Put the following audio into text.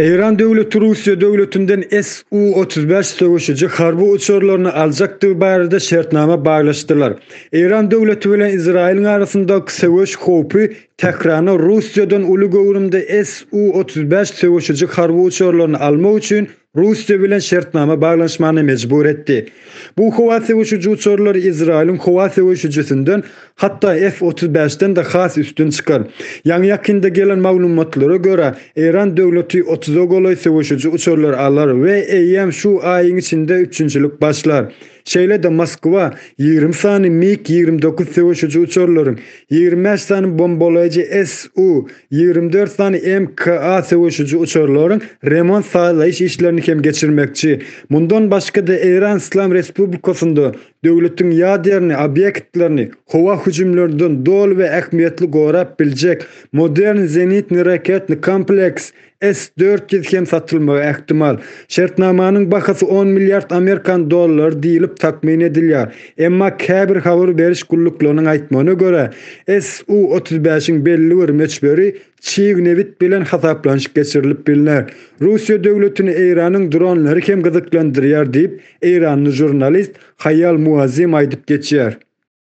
Eýran döwleti Russiýa döwletinden Su-35 söweşiji harby uçarlaryny aljakdygy barada şertnama baglaşdylar. Eýran döwleti bilen Izraýylyň arasyndaky söweş howpy Tährana Russiýadan uly göwrümde Su-35 söweşiji harby uçarlaryny almak üçin Russiýa bilen şertnama baglanyşmana mejbur etdi. Bu howa söweşiji uçarlar Izraýylyň howa söweşijisinden, hatda F otuz bäş-den-de has üstün çykar. Ýaňy-ýakynda gelen maglumatlara görä, Eýran döwleti otuza golaý söweşiji uçarlar alar we eýýäm şu aýyň içinde üpjünçilik başlar. Şeýle-de Moskwa ýigrimi sany MiG ýigrimi dokuz söweşiji uçarlaryň, ýigrimi bäş sany bombalaýjy Su, ýigrimi dört sany MK-A söweşiji uçarlaryň remont-sazlaýyş işlerini hem geçirmekçi. Mundan başga-da Eýran Yslam Respublikasynda döwletiň ýaderni obýektlerini howa hüjümlerinden doly we ähmiýetli gorap biljek modern zenitny-raketny kompleks S dört ýüz hem satylmagy ähtimal. Şertnamanyň bahasy on milliard amerikan dollary diýlip takmyn edilýär. Emma käbir habar beriş gulluklarynyň aýtmagyna görä, SU otuz bäş-iň belli bir möçberi çig nebit bilen hasaplanyşyk geçirilip bilner. Russiýa döwletini Eýranyň dronlary hem gyzyklandyrýar diýip, eýranly žurnalist Haýal Muazzem aýdyp geçýär.